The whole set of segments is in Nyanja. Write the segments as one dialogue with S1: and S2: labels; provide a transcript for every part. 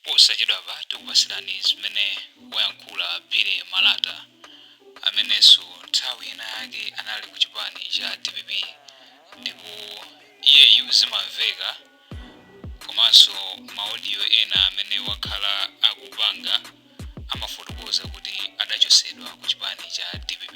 S1: Posachedwapa tikupatsirani zimene wayankhula Billy Malata, amenenso nthawi ina yake anali ku chipani cha dpp ndipo iyeyu zimamveka komanso ma audio ena amene wakhala akupanga amafotokoza kuti adachotsedwa ku chipani cha dpp.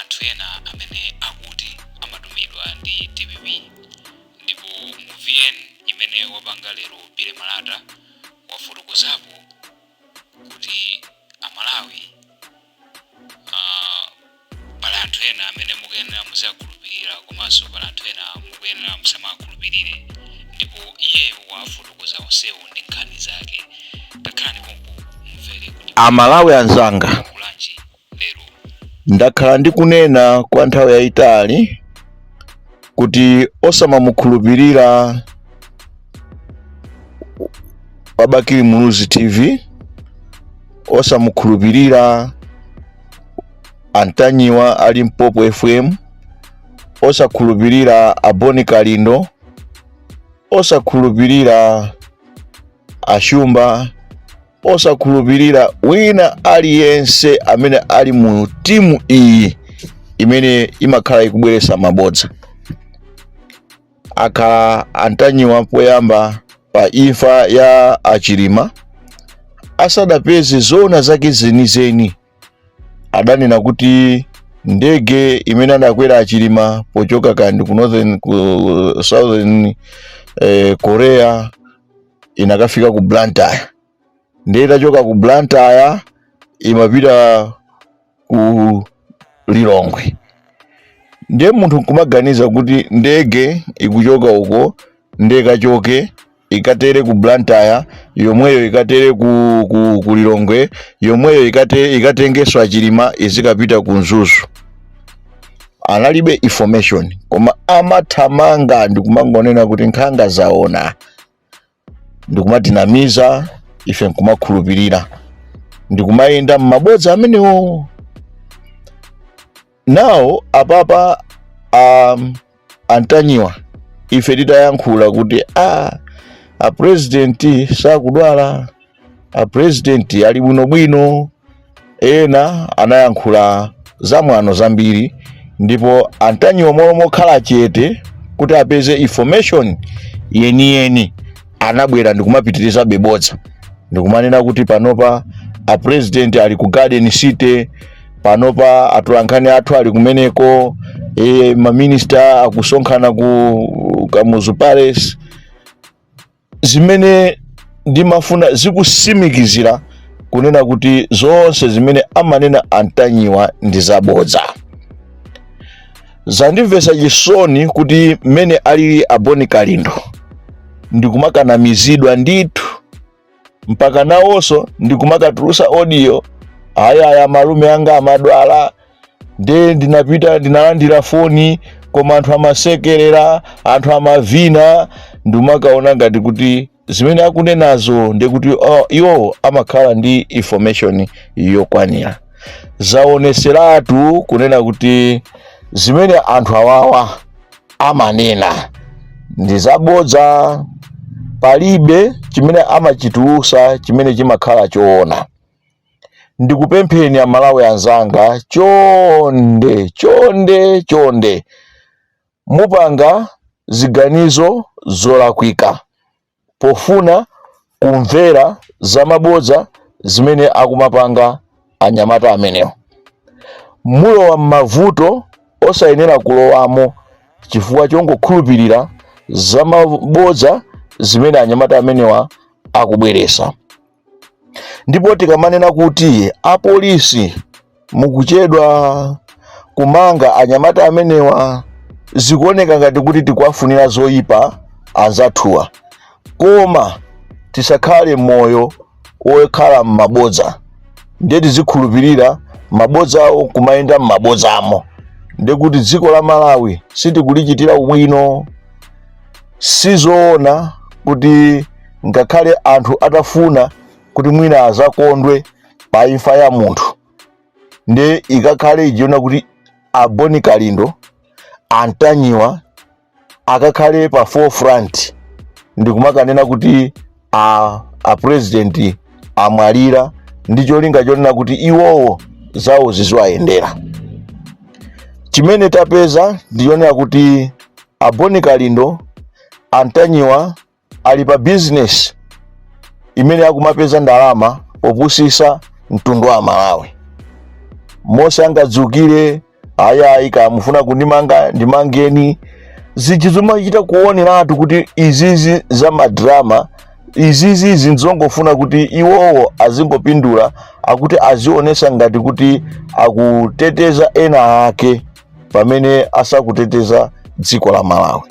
S1: anthu ena amene akuti amatumidwa ndi dpp ndipo mu vn imene wapanga lero Billy Malata wafotokozapo kuti amalawi ah, pali anthu ena amene mukuyenera muziwakhulupirira komanso pali anthu ena mukuyenera musamawakhulupirire ndipo iyeyo wafotokoza onsewo ndi nkhani zake takhalani pompo mumvere kuti amalawi anzanga
S2: kulanji Ndakhala ndikunena kwa nthawi yayitali kuti osamamukhulupirira Wabakili Muluzi TV, osamukhulupirira Antanyiwa a Limpopo FM, osakhulupirira Aboni Kalindo, osakhulupirira Ashumba osakhulupirira wina aliyense amene ali mu timu iyi imene imakhala ikubweretsa mabodza akhala antanyiwa poyamba pa imfa ya achilima asadapeze zoona zake zenizeni adanena kuti ndege imene adakwera achilima pochoka kandi ku northern ku southern eh, korea inakafika ku Blantyre ndiye itachoka ku Blantyre imapita ku Lilongwe ndiye munthu nkumaganiza kuti ndege ikuchoka uko ndiye kachoke ikatere ku Blantyre yomweyo ikatere ku, ku, ku Lilongwe yomweyo ikate, ikatengeso a Chilima izikapita ku Mzuzu analibe information koma amathamanga ndikumangonena kuti nkhanga zaona ndikumatinamiza ife nkumakhulupirira ndikumayenda m'mabodza amenewo now apapa um, antanyiwa ife titayankhula kuti a a president sakudwala a president ali bwinobwino ena anayankhula zamwano zambiri ndipo antanyiwa mmalo mokhala chete kuti apeze information yeniyeni anabwera ndikumapitiriza mabodza ndikumanena kuti panopa a president ali ku garden city panopa atolankhani athu ali kumeneko e, maminista akusonkhana ku kamuzu palace zimene ndimafuna ndikusimikizireni kunena kuti zonse zimene amanena antanyiwa ndi zabodza zandimvesa chisoni kuti mmene ali aboni kalindo ndikumakanamizidwa ndithu mpaka nawonso ndikumakatulusa odiyo ayaya amalume anga amadwala nde ndinapita ndinalandira foni koma anthu amasekerera anthu amavina ndikumakaona ngati kuti zimene akunenazo ndi kuti iwowo amakhala ndi information yokwanira zaoneseratu kunena kuti zimene anthu awawa amanena ndi zabodza palibe chimene amachitulusa chimene chimakhala choona ndikupempheni amalawi anzanga chonde chonde chonde Mupanga ziganizo zolakwika pofuna kumvera zamabodza zimene akumapanga anyamata amenewa. Mulowa m'mavuto osayenera kulowamo chifukwa chongokhulupirira zamabodza zimene anyamata amenewa akubweresa. ndipo tikamanena kuti apolisi mukuchedwa kumanga anyamata amenewa zikuoneka ngati kuti tikuwafunira zoyipa anzathuwa koma tisakhale moyo wokhala m'mabodza ndiye tizikhulupirira mabodzawo kumayenda m'mabodzamo ndiye kuti dziko la malawi sitikulichitira ubwino sizoona kuti ngakhale anthu atafuna kuti mwina azakondwe pa imfa ya munthu ndiye ikakhale yonena kuti aboni kalindo antanyiwa akakhale pa forefront ndikumakanena kuti a, a president amwalira ndi cholinga chonena kuti iwowo zawo ziziwayendera chimene tapeza ndichonena kuti aboni kalindo antanyiwa ali pa bizinesi imene akumapeza ndalama popusisa mtundu wa Malawi. Mmene angadzukire ayayi ngati mukufuna kundimanga ndimangeni zinthu zomachita kuoneratu kuti izizi za madrama izizi nzongofuna kuti iwowo azingopindula akuti azionesa ngati kuti akuteteza ena ake pamene asakuteteza dziko la malawi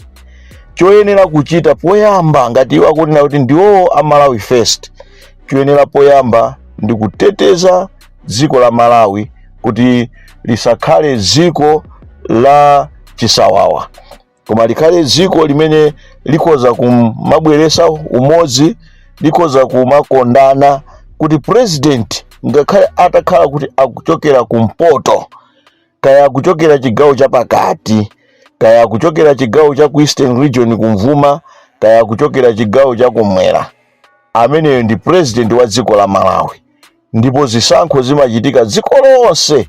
S2: choyenera kuchita poyamba ngati iwo akunena kuti ndiwo a malawi first choyenera poyamba ndi kuteteza dziko la malawi kuti lisakhale dziko la chisawawa koma likhale dziko limene likhoza kumabweresa umodzi likhoza kumakondana kuti president ngakhale atakhala kuti akuchokera kumpoto kaya akuchokera chigawo chapakati kaya akuchokera chigawo cha ku eastern region kumvuma kaya akuchokera chigawo cha kumwera ameneyo ndi president wa dziko la malawi ndipo zisankho zimachitika dziko lonse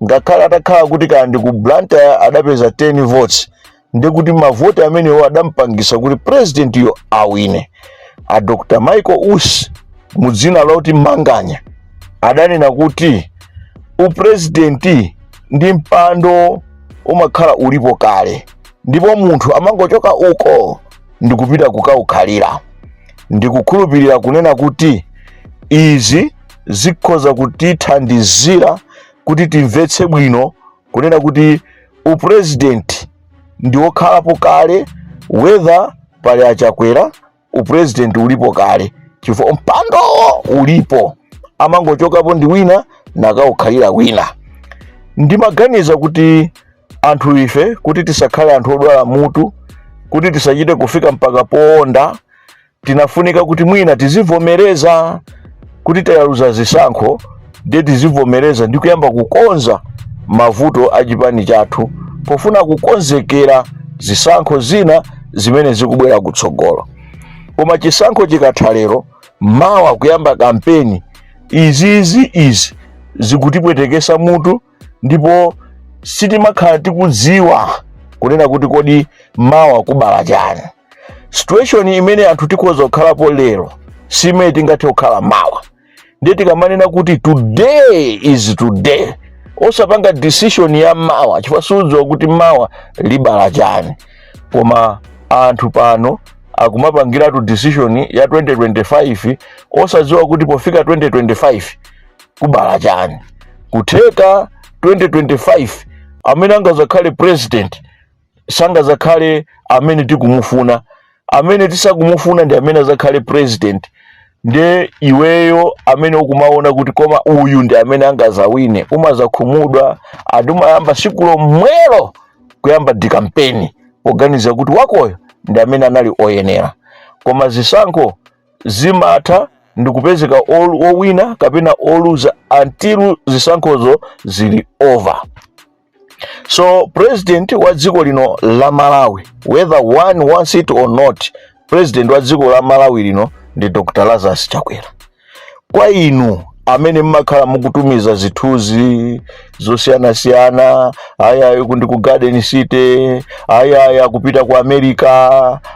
S2: ngakhale atakhala kuti kaya ndi ku blantyre adapeza 10 votes ndekuti mavoti amenewo adampangisa kuti purezidentiyo awine a dr michael usi mu dzina loti manganya adanena kuti upurezidenti ndi mpando umakhala ulipo kale ndipo munthu amangochoka uko ndikupita kukawukhalira ndikukhulupirira kunena kuti izi zikhoza kutithandizira kuti timvetse bwino kunena kuti upresident ndi wokhalapo kale whether pali achakwera upresident ulipo kale chifukwa mpandowo ulipo amangochokapo ndi wina nakawukhalira wina ndimaganiza kuti anthu ife kuti tisakhale anthu odwala mutu kuti tisachite kufika mpaka poonda tinafunika kuti mwina tizivomereza kuti tayaluza zisankho ndiye tizivomereza ndi kuyamba kukonza mavuto a chipani chathu pofuna kukonzekera zisankho zina zimene zikubwera kutsogolo koma chisankho chikatha lero mawa kuyamba kampeni izizi izi zikutipwetekesa mutu ndipo sitimakhala tikudziwa kunena kuti kodi mawa kubala chani situation imene anthu tikhoza kukhalapo lero si imene tingathe kukhala mawa ndiye tikamanena kuti today is today osapanga decision ya mawa chifukwa sudziwa kuti mawa libala chani koma anthu pano akumapangiratu decision ya 2025 osadziwa kuti pofika 2025 kubala chani kutheka 2025 amene angazakhale president sangazakhale amene tikumufuna amene tisakumufuna ndi amene azakhale president nde iweyo amene ukumaona kuti koma uyu ndi amene angazawine umazakhumudwa ndi umayamba siku lomwelo kuyamba dikampeni poganiza kuti wakoyo ndi amene anali oyenera koma zisankho zimatha ndikupezeka owina kapena oluza until zisankhozo zili over so president wa dziko lino la malawi whether one wants it or not president wa dziko la malawi lino ndi dr lazarus chakwera kwa inu amene mmakhala mukutumiza zithunzi zosiyanasiyana ayayi kundi ku garden city ayayi akupita ku america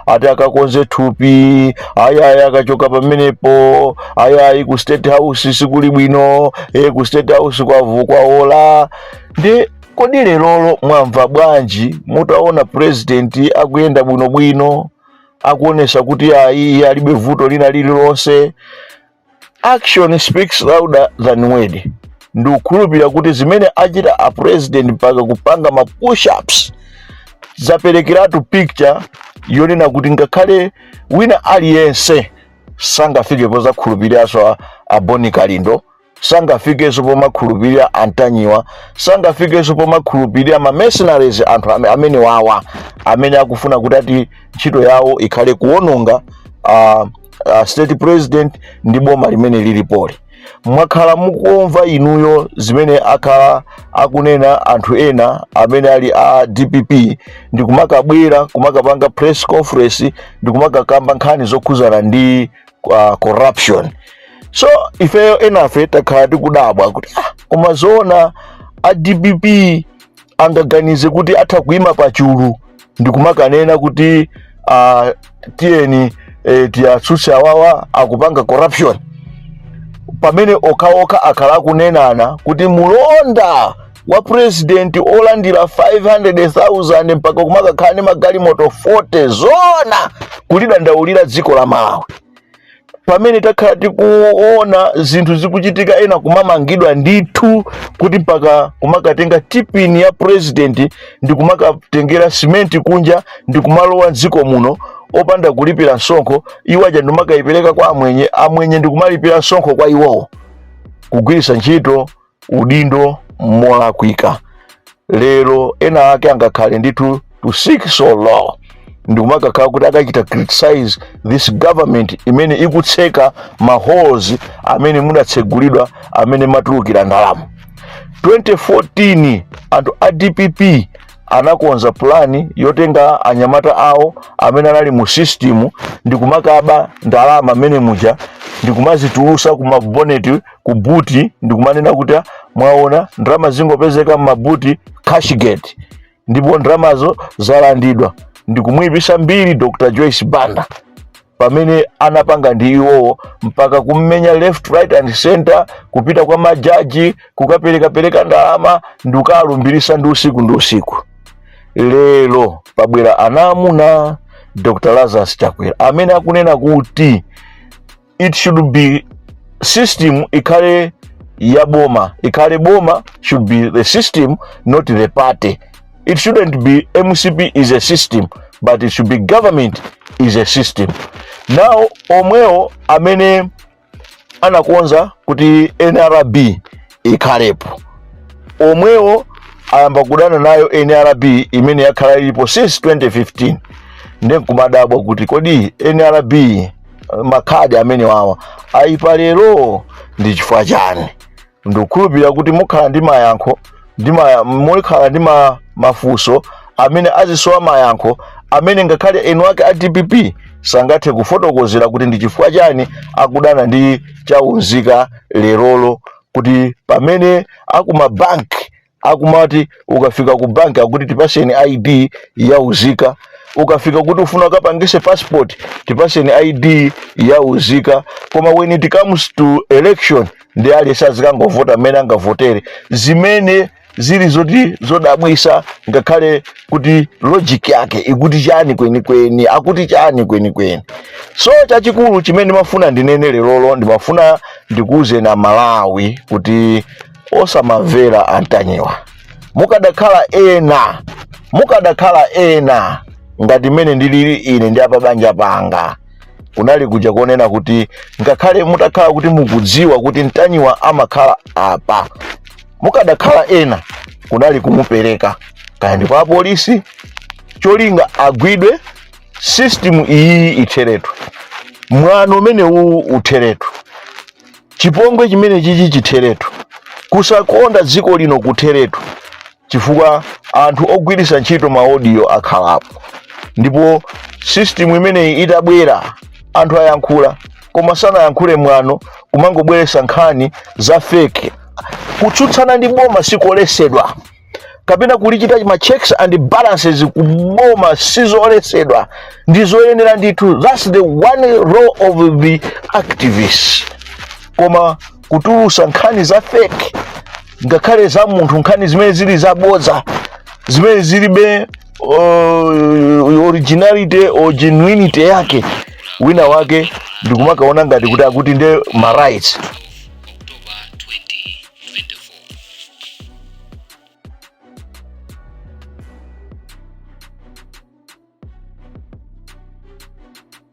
S2: ati akakonze thupi ayayi akachoka pamenepo ayayi ku state house sikuli bwino e ku state house kwavu kwaola ndi kodi lerolo mwamva bwanji mutaona president akuyenda bwinobwino akuonesa kuti ayi iye alibe vuto lina lililonse action speaks louder than word ndikukhulupirira kuti zimene achita a president mpaka kupanga ma push-ups zaperekeratu picture yonena kuti ngakhale wina aliyense sangafike pozakhulupiriranso a, a Bon Kalindo sangafikenso pomakhulupirira a Ntanyiwa sangafikenso pomakhulupirira ma mercenaries anthu ame- amene wawa amene akufuna kuti ati ntchito yawo ikhale kuononga uh, uh, state president ndi boma limene lilipoli mwakhala mukumva inuyo zimene akhala akunena anthu ena amene ali a dpp ndi kumakabwera kumakapanga press conference ndi kumakakamba nkhani zokhuzana ndi corruption so ifeyo enafe takhala tikudabwa kuti ah, koma zoona a dpp angaganize kuti atha kuima pa chulu ndikumakanena kuti uh, tiyeni eh, tiyatsutse awawa akupanga corruption pamene okhaokha akhala akunenana kuti mulonda wa president olandira 500,000 mpaka kumakakhala ndi magalimoto 40 zona kulidandaulira dziko la Malawi pamene takhala tikuona zinthu zikuchitika ena kumamangidwa ndithu kuti mpaka kumakatenga TPIN ya president ndi kumakatengera simenti kunja ndi kumalowa mdziko muno opanda kulipira msonkho iwo aja ndikumakayipereka kwa amwenye amwenye ndi kumalipira msonkho kwa iwowo kugwiritsa ntchito udindo molakwika. Lero ena ake angakhale ndithu to sink so low ndikumakakhala kuti akachita criticize this government imene ikutseka maholes amene mudatsegulidwa amene matulukira ndalama 2014 anthu a dpp anakonza pulani yotenga anyamata awo amene anali mu system ndikumakaba ndalama mmene muja ndikumazitulusa ku maboneti ku buti ndikumanena kuti ah, mwaona ndalama zingopezeka m'mabuti cashgate ndipo ndalamazo zalandidwa ndikumuyipisa mbiri dr joyce banda pamene anapanga ndi iwowo mpaka kummenya left right and center kupita kwa majaji kukaperekapereka ndalama ndikukalumbirisa ndi usiku ndi usiku lero pabwera anamuna dr lazarus chakwera amene akunena kuti it should be system ikhale ya boma ikhale boma should be the system not the party it shouldn't be mcp is a system but it should be government is a system now omwewo amene anakonza kuti nrb ikhalepo omwewo ayamba kudana nayo nrb imene yakhala ilipo since 2015 ndi nkumadabwa kuti kodi nrb makhadi amene wawa ayipa lero ndi chifukwa chani ndikukhulupirira kuti mukhala ndi mayankho ndi ma- mukhala ndi ma- mafunso amene azisowa mayankho amene ngakhale eni ake a dpp sangathe kufotokozera kuti ndi chifukwa chani akudana ndi chaunzika lerolo kuti pamene akumabanki akumati ukafika ku banki akuti tipaseni id ya uzika ukafika kuti ufuna ukapangise passport tipaseni id ya uzika koma when it comes to election ndiye aliyense azikangovota mmene angavotere zimene zili zoti zodabwisa ngakhale kuti logic yake ikuti chani kwenikweni akuti chani kwenikweni so chachikulu chimene ndimafuna ndinene lerolo ndimafuna ndikuwuzeni amalawi kuti osamamvera antanyiwa mukadakhala ena mukadakhala ena ngati mmene ndilili ine ndi apabanja panga kunali kuja konnena kuti ngakhale mutakhala kuti mukudziwa kuti ntanyiwa amakhala apa mukadakhala ena kunali kumupereka kaya ndi kwa apolisi cholinga agwidwe system iyi itheretu mwano umene uwu utheretu chipongwe chimene chichi chitheretu kusakonda dziko lino kutheretu chifukwa anthu ogwiritsa ntchito maodiyo akhalapo ndipo system imeneyi itabwera anthu ayankhula koma sanayankhule mwano kumangobweretsa nkhani za fake kutsutsana ndi boma sikolesedwa kapena kulichita ma checks and balances kuboma sizolesedwa ndi zoyenera ndithu that's the one role of the activists koma kutulusa nkhani za fake ngakhale za munthu nkhani zimene zili zabodza zimene zilibe uh, originality or genuinity yake wina wake ndikumakaona ngati kuti akuti nde ma rights